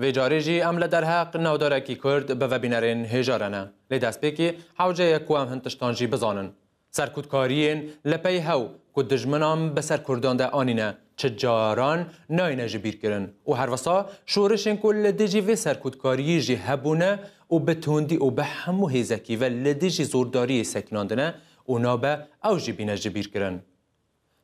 Vê carî jî em li derheq navdarekî Kurd bi vebînerên hêja re ne. Lê destpêkî hewce ye ku em hin tiştan jî bizanin. Serkutkariyên li pey hew ku dijminan bi ser Kurdan de anîne çi caran nayêne ji bîr kirin û her wisa şorişên ku li dijî vê serkutkariyê jî hebûne û bi tundî û bi hemû hêzekî ve li dijî zordariyê sekinandine û nabe ew jî bîne ji bîr kirin.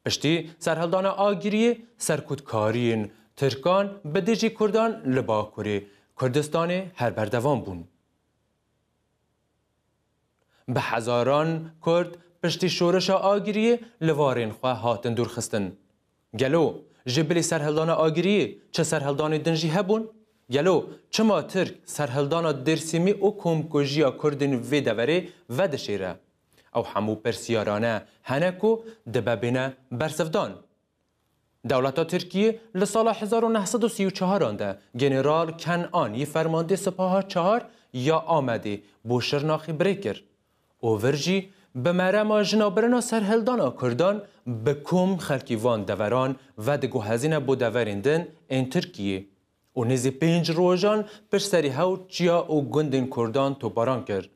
Piştî serhildana Agiriyê serkutkariyên Tirkan bi dijî Kurdan li Bakurê Kurdistanê her berdewam bûn. Bi hezaran Kurd piştî şoreşa Agiriyê li varên xwe hatin dûrxistin. Gelo ji bilî serhildana Agiriyê çi serhildanê din jî hebûn? Gelo çima Tirk serhildana Dêrsimî û komkujiya Kurdên vê deverê vedişêre? Ew hemû pirsiyarane hene ku dibe bîne bersivdan. Dewleta Tirkiyê li sala hezar û neh sed û sî û çaran de General Ken An yê Fermandê Sipaha Çar ya Amedê bo Şirnaxê birê kir û vir jî bi merema jinabirina serhildana Kurdan bi kom xelkê van deveran vediguhezîne bo deverên din ên Tirkiyê û nêzî pênc rojan pişt serî hewt çiya û gundên Kurdan toparan kir.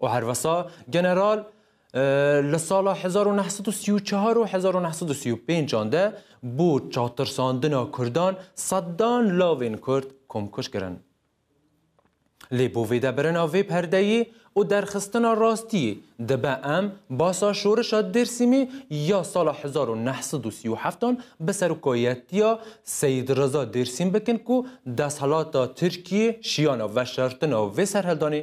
û her wisa general li sala hezar û neh sed û sî û çar û hezar û neh sed û sî û pêncan de bo çatirsandina Kurdan sedan lavên Kurd komkuj kirin. Lê bo vêdebrina vê perdeyê û derxistina rastiyê dibe em basa şorişa Dêrsimê ya sala hezar û neh sed û sî û heft an bi serokayetiya Seyîd Riza Dêrsim bikin ku desthelata Tirkiyê şiyana veşartina vê serheldanê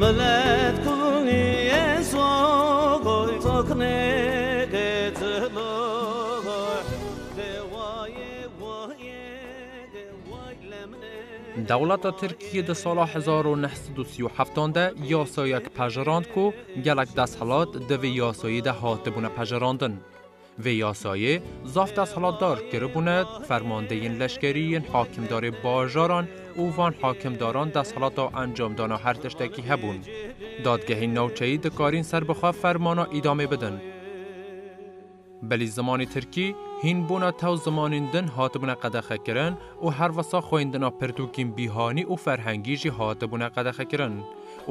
Milet kunî ye sogoy toknê ke cilogoy ke wayê wayê ke way lemnê. Dewleta Tirkiyê di sala hezar û neh sed û sî û heft an de yasayek pejirand ku gelek desthilat di vê yasayê de hatibûne pejirandin. Vê yasayê zaf desthilatdar kiribûne, fermandeyên leşkerî yên hakimdarê bajaran û van hakimdaran desthilata encamdana her tiştekî hebûn. Dadgehên navçeyî dikarîn ser bi xwe fermana îdamê bidin. Belî zimanê tirkî hîn bûna tew zimanên din hatibûne qedexekirin û herwisa xwendina pirtûkên bîhanî û ferhengî jî hatibûne qedexekirin.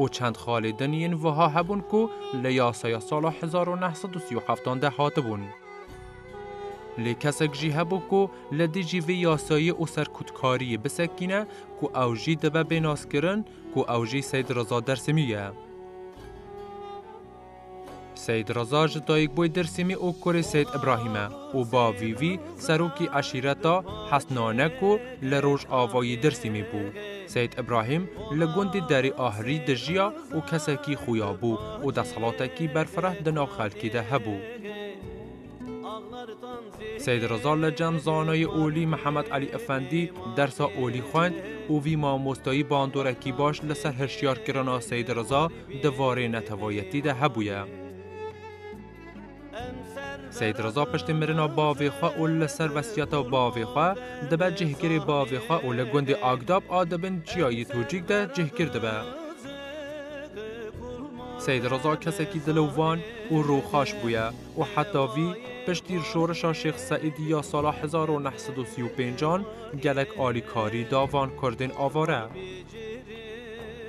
û çend xalê din yên wiha hebûn ku li yasaya sala hezar û neh sed û sî û heftan de hatibûn. Lê kesek jî hebû ku li dijî vê yasayê û serkutkariyê bisekîne ku ew jî dibe bê naskirin ku ew jî Seyd Reza Dersimî ye. Seyîd Reza ji dayikbûyê Dêrsimî û kurê Seyîd Îbrahîm e û bavî wî serokê eşîreta Hesnanek û li rojavayî Dêrsimî bû. Seyîd Îbrahîm li gundê Derê Ahrî dijiya û kesekî xuya bû û desthilatekî berfireh di nav xelkê de hebû. Seyd Riza li cem Zanayê Olî Mihemed Elî Efendî dersa Olî xwend û vî mamostayî bandorekî baş li ser hişyarkirina Seyd Riza di varê netewayetî de hebûye. Seyd Riza piştî mirina bavê xwe û li ser wesiyeta bavê xwe dibe cihgirê bavê xwe û li gundê Agdab a di bin çiyayê Tûcîk de cihgir dibe. Seyd Riza kesekî dil û van û rûxaş bûye. û heta vî piştîr şoreşa Şêx Seîdî ya sala hezar û neh sed û sî û pênc an gelek alîkarî da van kurdên avare.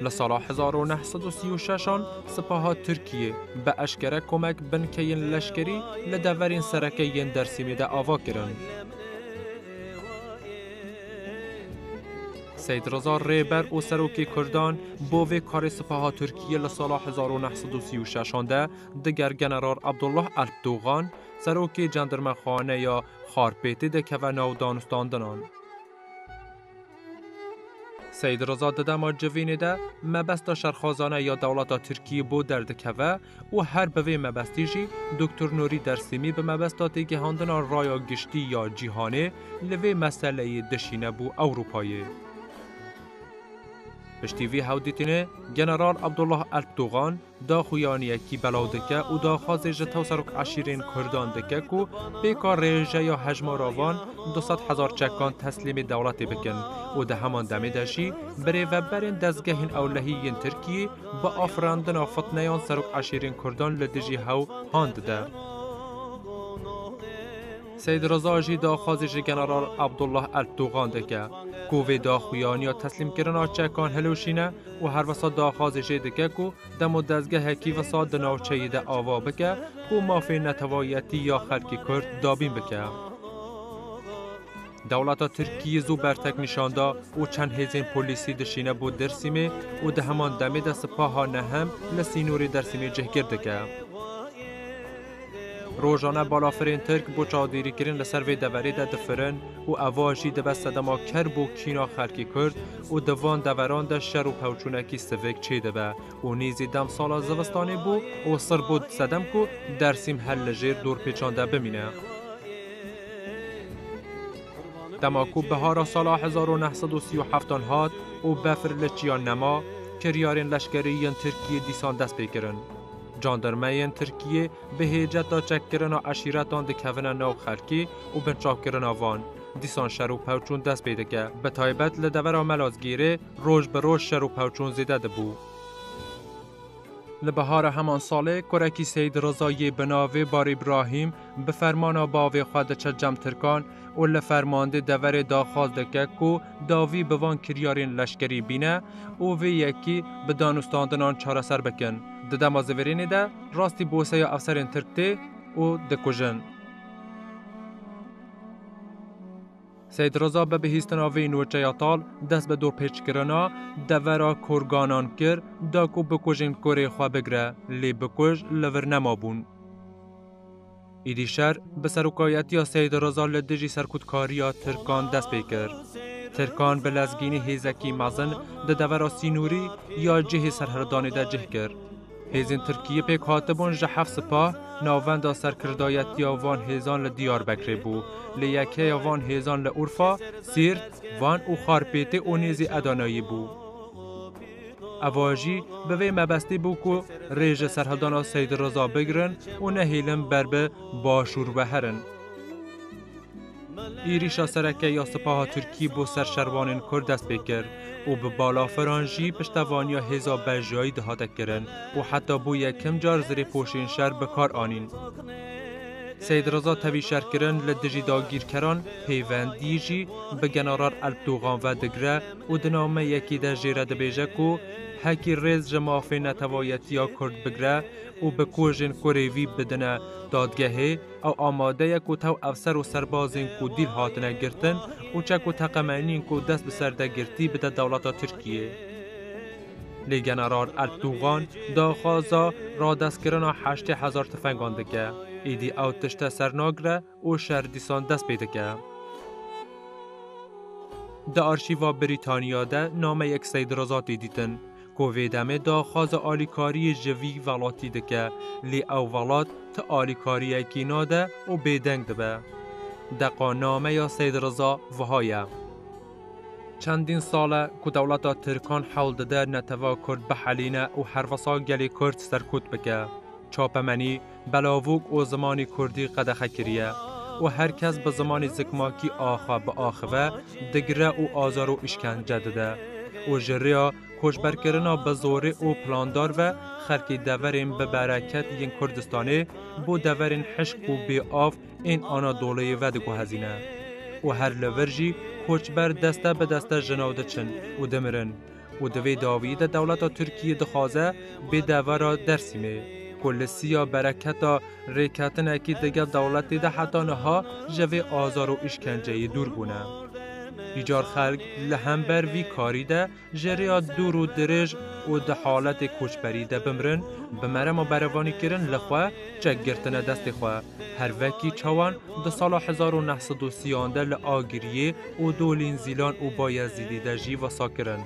Li sala hezar û neh sed û sî û şeş an sipaha Tirkiyê bi eşkere komek binkeyên leşkerî li deverên sereke yên Dersîmê de ava kirin. Seîd Riza rêber û serokê kurdan bo vê karê sipaha Tirkiyê li sala hezar û neh sed û sî û şeş an de Diger General Abdullah Alp Dogan, serokê cendirmexaneya Xarpêtê de keve nav danistandinan. Seyid Rıza di dema civînê de mebesta şerxwazane ya dewleta Tirkiyê bo derdikeve û her bi vê mebestî jî Doktor Nurî Dersîmî bi mebesta têgihandina raya giştî ya cîhanê li vê meseleyê dişîne bo Ewropayê. Piştî vê hewdîtinê General Abdullah Alp Dogan Daxuyanî yekî belaw dike û daxwazê ji tewserok eşîrên kurdan dike ku pêka rêjeya hejmara van du sed hezar çekan teslîmê dewletê bikin û di heman demê de jî birêveberên dezgehên ewlehî yên Tirkiyê bi afirandina fitneyan serok eşîrên kurdan li dijî hew han dide. Seyîd Riza jî daxwazê ji general Abdullah Ertugan dike ku vê daxuyaniya teslîmkirina çekan hilweşîne û her wisa daxwazê jê dike ku demo dezgehekî wisa di navçeyê de ava bike ku mafê netewayetî ya xelkê Kurd dabîn bike. Dewleta Tirkiyê zû bertek nîşan da û çend hêzên polîsî dişîne bo Dêrsîmê û di heman demê de sipaha nehem li sînorê Dersîmê cihgir dike. Rojane balafirên Tirk bo çavdêrîkirin li ser vê deverê de difirin û eva jî dibe sedema ker bo kîna xelkê Kurd û di van deveran de şer û pewçûnekî sivik çêdibe û nêzî dem sala zivistanê bû û sir bû sedem ku Dersîm her li jêr dorpêçan de bimîne. Dema ku bihara sala hezar û neh sed û sî û heft an hat û befir li çiyan nema, kiryarên leşkerî yên Tirkiyê dîsan dest pê kirin. Jandarmeyên Tirkiyê bi hêceta çekkirina eşîretan dikevine nav xelkê û binçavkirina van. Dîsan şer û pevçûn dest pê dike. Bi taybet li devera Melazgîrê roj bi roj şer û pevçûn zêde dibû. Li bihara heman salê kurekî Seyîd Riza yê bi navê Bar Îbrahîm bi fermana bavê xwe diçe cem tirkan û li fermandê deverê daxwaz dike ku dawî bi van kiryarên leşkerî bîne û vê yekî bi danûstandinan çareser bikin. Di dema zivêrênê de rastî boseya efserên tirk tê û dikujin. Seyîd Riza bi bihîstina vê nûçeya tal dest bi dorpêçkirina devera kurganan kir da ku bikujên kurê xwe bigire lê bikuj li vir nemabûn. Îdîşer bi serokayetiya Seyîd Riza li dijî serkûtkariya Tirkan dest pê kir. Tirkan bi lezgînî hêzekî mezin di devera sînorî ya cihê serhildanê de cih kir. Hêzên Tirkiyê pêk hatibûn ji heft sipa, navenda serkirdayetiya van hêzan li Diyarbekirê bû, lê yekeya van hêzan li Urfa, Siirt, Van û Xarpêtê û nêzî Edaneyê bû. Eva jî bi vê mebestî bû ku rê ji serhildana Seyd Riza bigirin û nehêlin ber bi Başûr ve herin. Êrîşa sereke ya Sipaha Tirkî bo ser şervanên Kurd dest pê kir û bi balafiran jî piştevaniya hêza bejiyayî dihate kirin û heta bû yekim car zirêpoşên şer bi kar anîn. Seyd Riza tevî şerkirin li dijî dagîrkeran pêvendî jî bi general Elbtûgan ve digire û di nameyekî de jê re dibêje ku hekî rêz ji mafê netewayetiya Kurd bigre û bi kojên kurê vî bidine dadgehê, ew amade ye ku tew efser û serbazên ku dîl hatine girtin û çek û teqemenîn ku dest bi ser de girtî bide dewleta Tirkiyê. Lê general Ertûgan daxwaza radestkirina heştê hezar tifengan dike. Êdî ew tişt te ser nagire? û şer dîsan dest pê dike. Di arşîva Brîtanya de nameyek Seyd Reza tê dîtin ku vê demê daxwaza alîkariyê ji vî welatî dike lê ew welat ti alîkariyekî nade û bêdeng dibe. Deqa nameya Seyd Reza wiha ye. Çendîn sal e ku dewleta Tirkan hewl dide neteweyê Kurd bihelîne û herwisa gelê Kurd serkût bike. Çapemenî belavûk û zimanê kurdî qedexe kiriye û her kes bi zimanê zikmakî a xwe biaxive, digire û azar û îşkence dide û ji rêya koçberkirina bi zorê û plandar ve xelkê deverên bi bereket yên Kurdistanê bo deverên hişk û bê av ên Anadolayê ve diguhezîne û her li vir jî koçber deste bi deste ji nav diçin û dimirin. û di vê dawiyê de dewleta Tirkiyê dixwaze bê devera Dêrsimê ku li siya bereketa rêketinekê digel dewletê de heta niha ji vê azar û îşkenceyê dûr bûne. Îcar xelk li hember vî karî de ji rêya dûr û dirêj û di haletê koçberî de bimrin, bi merema berevanîkirin li xwe çek girtine destê xwe, her vekî çawan di sala hezar û neh sed û sî an de li Agiriyê, û Dolîn, Zîlan û Bayezîdî de jî wisa kirin.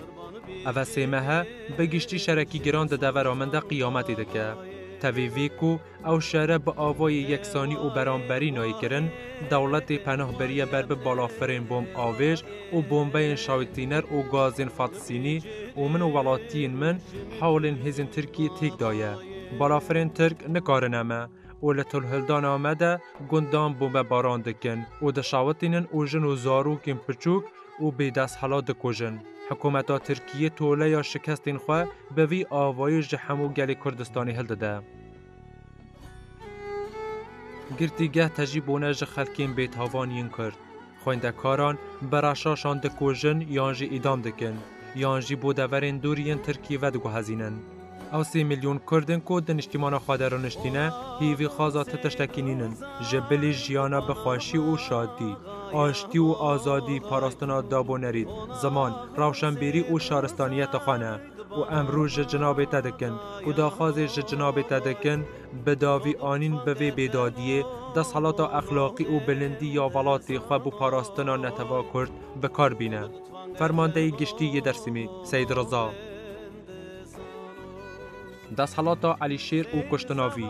Ev e sê mehe bi giştî şerekî giran di devera min de qiyametê dike. Tevî vî ku ew şere bi avayê yeksanî û beramberî nayê kirin, dewletê penah biriye ber bi balafirên bomb avêj û bombeyên şawitîner û gazên fatisînî û min û welatiyên min hewlên hêzên Tirkiyê têk daye. Balafirên Tirk nikarine me. û li Tulhildana me de gundan bombebaran dikin û dişawitînin û jin û zarokên piçûk û bêdesthilat dikujin. Hikûmeta Tirkiyê toleya şikestên xwe bi vî avayî ji hemû gelê Kurdistanê hildide. Girtîgeh tejî bûne ji xelkên bêtavan yên Kurd. Xwendekaran bi reşaşan dikujin yan jî îdam dikin yan jî bo deverên dûr yên Tirkiyê ve diguhezînin. Ew sê milyon Kurd in ku di niştîmana xwe de rûniştîne hîvî xaza ti tiştekî nînin ji bilî jiyana bi xweşî û şadî, aştî û azadî, parastina dab û nerîd, ziman, rewşenbîrî û şaristaniyeta xwe ne. Ku emrû ji cinabê te dikin, ku daxwazê ji cinabê te dikin, bi davî anîn bi vê bêdadiyê, desthilata exlaqî û bilindî ya welatê xwe bo parastina neteva kurd bi kar bîne. Fermandeyê Giştî yê Dêrsimî, Seyîd Riza. Desthelata Elîşêr û kuştina vî.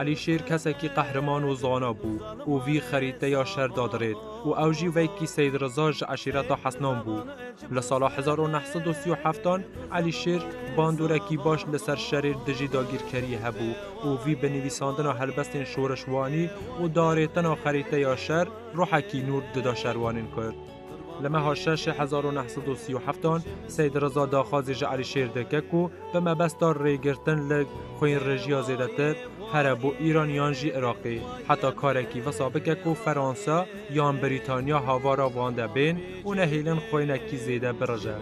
Elîşêr kesekî qehreman û zana bû û vî xerîteya şer dadirêt û ew jî veykî Seyd Riza ji eşîreta Hesnan bû. Li sala hezar û neh sed û sî û heftan Elîşêr bandûrekî baş li ser şerê dijî dagîrkeriyê hebû û vî bi nivîsandina helbestên şorişwanî û darêtina xerîteya şer ruhekî nûr dida şerwanên Kurd. Li meha şeşê hezar û neh sed û sî û heftan Seyd Riza daxwazî ji Elîşêr dike ku bi mebesta rêgirtin li xwînrejiya zêdetir here bo Îran yan jî Iraqê heta karekî wisa bike ku Fransa yan Brîtanya havara wan de bên û nehêlin xwênekî zêde birije.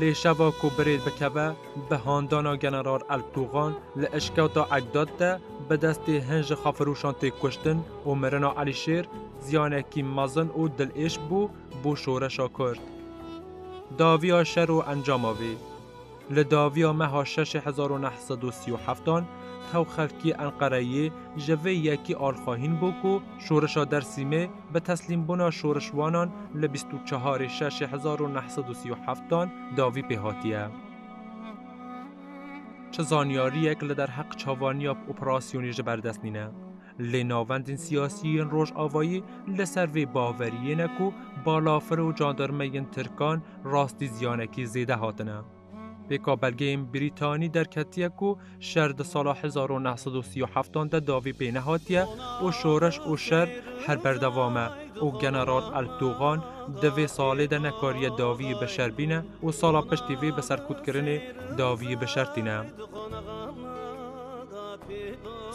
Lê şeva ku birêd bikeve bi handana General Ertûgan li Eşketa Egdat de bi destê hin ji xafirûşan tê kuştin û mirina Elîşêr ziyanekî mezin û dilêş bû bo şoreşa Kurd. Daviya şer û encama vê Li daviya meha şeşê hezar û neh sed û sî û heft an tew xelkê Enqereyê ji vê yekî alxwahîn bû ku şoreşa Dersîmê Bi teslîmbûna şorişwanan li bîst û çeharê şeşê hezar û neh sed û sî û heftan dawî pê hatiye. Çi zanyariyek li derheq çavaniya operasyonê ji ber dest nîne. Lê navendên siyasî yên Rojavayî li ser vê baveriyê ne ku balafir û candarmeyên tirkan rastî ziyanekî zêde hatine. Pêka belgeyên Brîtanî derketiye ku şer di sala hezar û neh sed û sî û heftan de davî pê nehatiye û şoreş û şer her berdevam e û General Erdogan di vê salê de nekariye daviyî bi şer bîne û sala piştî vê bi serkûtkirinê daviyî bi şer tîne.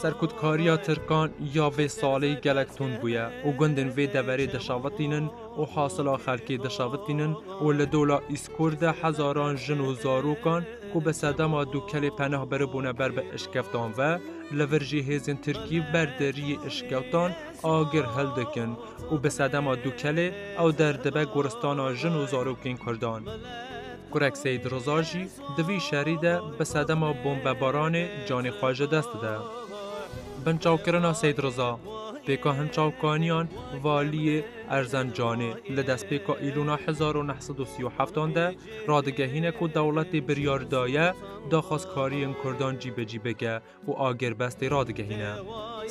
Serkûtkariya Tirkan ya vê salê gelek tund bûye û gundên vê deverê dişewitînin û hasila xelkê dişavitînin û li Dola Îzkur de hezaran jin û zarokan ku bi sedema Dûkelê peneh biribûne ber bi eşkeftan ve, li vir jî hêzên Tirkî ber deriyê eşkeftan agir hildikin û bi sedema Dûkelê ew der dibe goristana jin û zarokên Kurdan. Kurek Seyîd Riza jî di vî şerî de bi sedema bombebaranê canê xwe ji dest dide. Binçavkirina Seyîd Riza, pêka hinçavkaniyan Valiyê Erzencanê li destpêka Îlûna hezar û neh sed û sî û heftan de radigehîne ku dewletê biryar daye daxwazkariyên Kurdan cîbecî bike û agêrbestê radigehîne.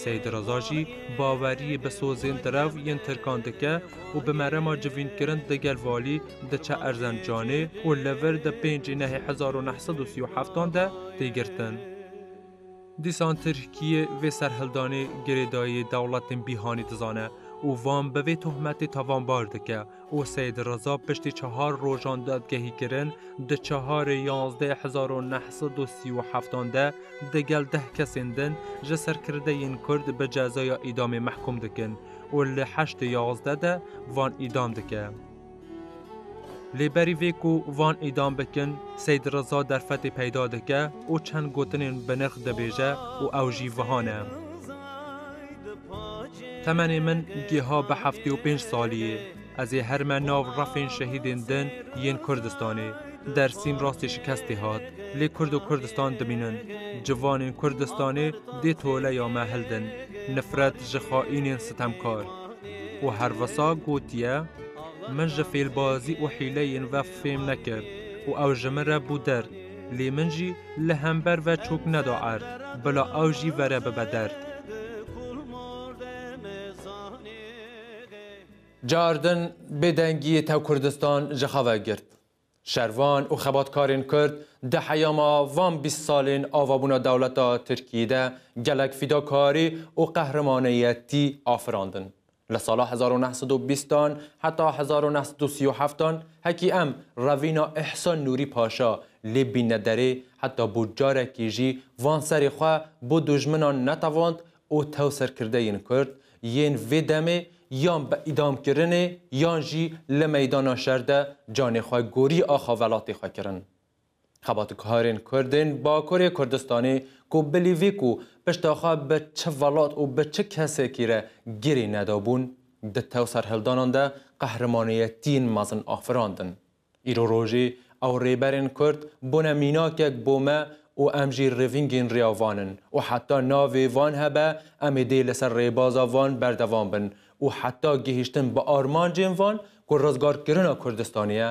Seyîd Reza jî baweriyê bi sozên direw yên Tirkan dike û bi merema civînkirin di gel Valî diçe Erzencanê û li vir di pêncî Nehê hezar û neh sed û sî û heftan de tê girtin. Dîsan Tirkiyê vê serhildanê girêdayiyê dewletên bîhanî dizane û van bi vê tohmetê tavanbar dike. û Seyîd Reza piştî çehar rojan dadgehîkirin di çeharê yazdeh hezar û neh sed û sî û heftan de di gel deh kesên din ji serkirdeyên Kurd bi cezaya îdamê mehkûm dikin û li heştê yazdeh de van îdam dike. Lê berî vê ku van îdam bikin Seyîd Reza derfetê peyda dike û çend gotinên binirx dibêje û ew jî viha ne. Temenê min giha bi heftê û pênc salî ye. Ez ê her me nav refên şehîdên din yên Kurdistanê. Dersîm rastî şikestî hat. Lê Kurd û Kurdistan dimînin. Civanên Kurdistanê dê toleya me hildin. Nifret ji xaînên sitemkar. Û her wisa gotiye, Min ji fêlbazî û hîleyên we fêm nekir û ew ji min re bû der. Lê min jî li hember ve çok neda erd, bila ew jî vere bibe derd. Car din bêdengiyê tev Kurdistan ji xwe vegirt. Şervan û xebatkarên Kurd di heyama van bîst salên avabûna dewleta Tirkiyê de gelek fîdakarî û qehrimaniyetî afirandin. Li sala hezar û neh sed û bîst an heta hezar û neh sed û sî û heft an hekî em revîna Îhsan Nûrî Paşa lê bîne derê heta bo carekî jî van serê xwe bo dûjminan netewand û tewserkirde yên Kurd yên vê demê yan bi îdam kirinê yan jî li meydana şer de canê xwe gorî axa velatê xwe kirin. Xebatkarên Kurd ên Bakurê Kurdistanê ku bilî vî ku pişta xwe bi çi welat û bi çi kesekî re girê nedabûn, di tew serhildanan de qehremaniyetiyên mezin afirandin. Îro rojê ew rêberên Kurd bûne mînakek bo me û em jî rêvîngên rêya van in û heta navê van hebe em ê dê li ser rêbaza van berdewam bin û heta gihîştin bi armancên van ku rizgarkirina Kurdistanê ye